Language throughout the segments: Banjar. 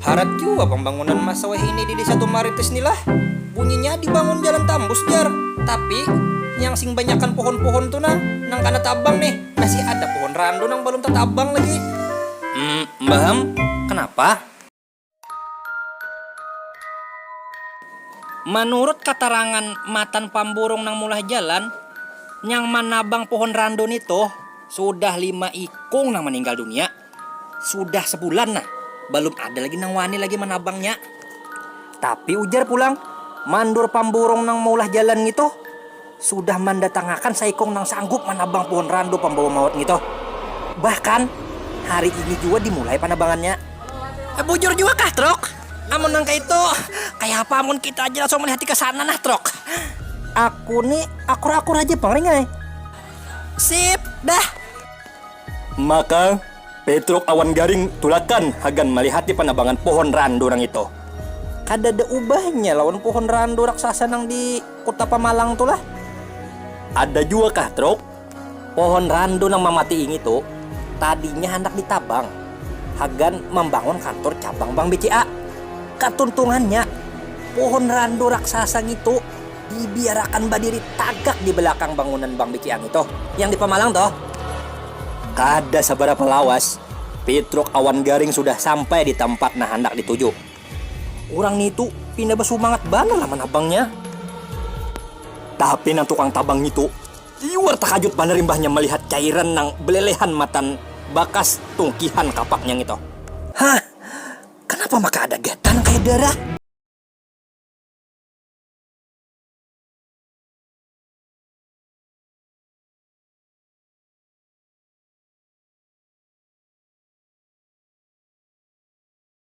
Harat jua pambangunan masa wahini di Desa Tumaritis ni lah. Bunyinya dibangun jalan tambus jar. Tapi, nyang sing banyakan pohon-pohon tu nah, nang kana tabang nih. Masih ada pohon randu nang balum tatabang lagi. Mmm, mbah am, kanapa? Manurut katarangan matan pamburung nang mulah jalan, nyang manabang pohon randu ni tuh sudah lima ikung nang maninggal dunia, sudah sabulan nah balum ada lagi nang wani lagi manabangnya. Tapi ujar pulang mandur pamburung nang maulah jalan ngitu. sudah mandatangakan saikung nang sanggup manabang puhun randu pambawa maut ngitu. Bahkan, hari ini jua dimulai panabangannya. Bujur jua kah, Truk? Amun nang kaitu, kayapa amun kita aja langsung malihati ka sana nah, Truk? Aku ni akur-akur haja pang, Ring ai. Sip, dah. Maka, Petruk awan Garing tulakan hagan malihati panabangan puhun randu nang itu. Kadada ubahnya lawan puhun randu raksasa nang di. Kuta Pamalang tu lah. Ada jua kah Truk? Pohon randu nang mamatii ngitu tadinya handak ditabang hagan mambangun kantur cabang bank BCA. Katuntungannya, pohon randu raksasa ngitu dibiarakan badiri tagak di balakang bangunan bank BCA ngitu, yang di Pamalang tuh. Kada sabarapa lawas, Pitruk awan Garing sudah sampai di tampat nang handak dituju. Urang ngitu pina basumangat banar lah manabangnya. Tapi nang tukang tabang ngitu liur takajut banar imbahnya malihat cairan nang belelehan matan bakas tungkihan kapaknya ngitu. Hah! Kanapa maka ada gatal nang kaya darah?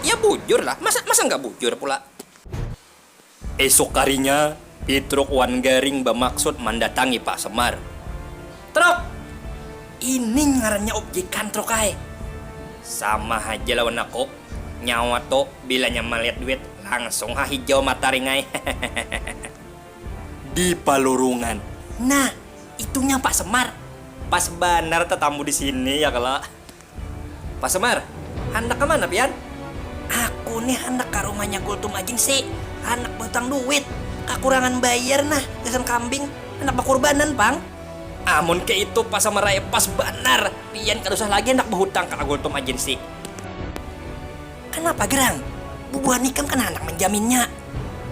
Ya bujur lah, masa masa nggak bujur pula. Esuk harinya, Pitruk wan Garing bamaksud mandatangi Pak Semar. Truk! Ini ngarannya objekan truk ai. Sama haja lawan aku, nyawa tu bilanya malihat duit langsung ha hijau mata ring ai. Di palurungan, nah itunya Pak Semar. Pas banar tatamu di sini ya kalo. Pak Semar, handak ka mana pian? Aku nih handak ka rumahnya Kultum Ajing si, handak bahutang duit, kakurangan bayar nah gasan kambing, handak bakurbanan pang. Amun kaya itu Pak Semar ai pas banar, pian kada usah lagi handak bahutang ka Kultum Ajin si. Kanapa gerang? Bubuhan ikam kena handak manjaminnya.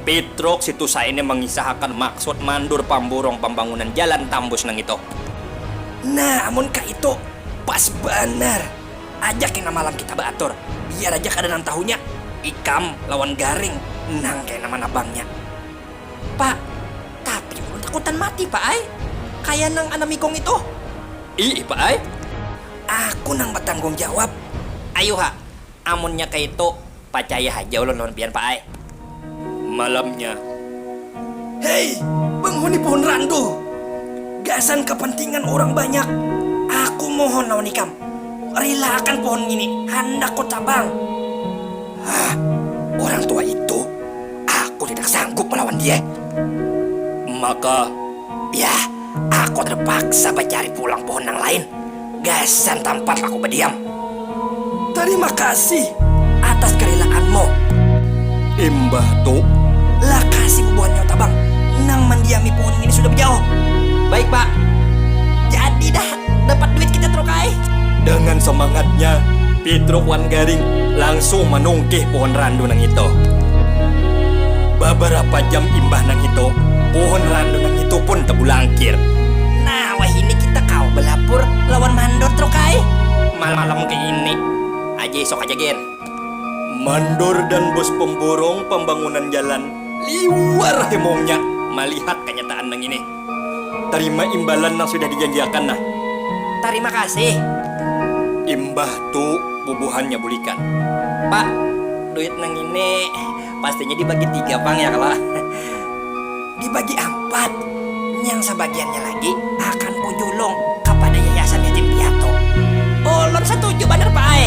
Pitruk, si tusa ini mangisahakan maksud mandur pamburung pambangunan jalan tambus nang itu. Nah, amun kaitu, pas banar. Aja kena malam kita baatur. Biar aja kada nang tahunya. Ikam lawan Garing nang kena manabangnya. Pa, tapi ulun takutan mati, Pa ai. Kaya nang Anam Ikung itu. Iih, Pa ai. Aku nang batanggung jawab. Ayuha, Amunnya kaitu, pacaya haja ulun lawan pian, Pak ai. Malamnya. Hei, penghuni Pohon Randu! Gasan kapantingan urang banyak, aku mohon lawan ikam, rilaakan pohon ngini, handak kutabang. Hah, urang tua itu, aku tidak sanggup malawan dia. Maka, yah, aku terpaksa bacari pulang pohon nang lain. Gasan tampat laku badiam. Tarima kasih atas karilaanmu. Imbah tu. Lakasi bubuhan nyawa tabang nang mandiami puhun ngini sudah bajauh. Baik pak. Jadi dah dapat duit kita truk ai. Dengan samangatnya, Pitruk wan Garing langsung manungkih puhun randu nang itu. Babarapa jam imbah nang itu, puhun randu nang itu pun tabulangkir. Nah. Wahini kita kawa balapur lawan Mandor truk ai. Malam kaini aja isuk aja gin. Mandor dan Bos Pemborong Pambangunan Jalan liwar hemongnya malihat kanyataan nang ini. Tarima imbalan nang sudah dijanjiakan nah. Tarima kasih. Imbah tu bubuhannya bulikan. Pak, duit nang ini. Pastinya dibagi tiga pang ya kalo? Dibagi ampat, nyang sabagiannya lagi akan kujulung kapada yayasan yatim piatu. Ulun satuju banar pa ai.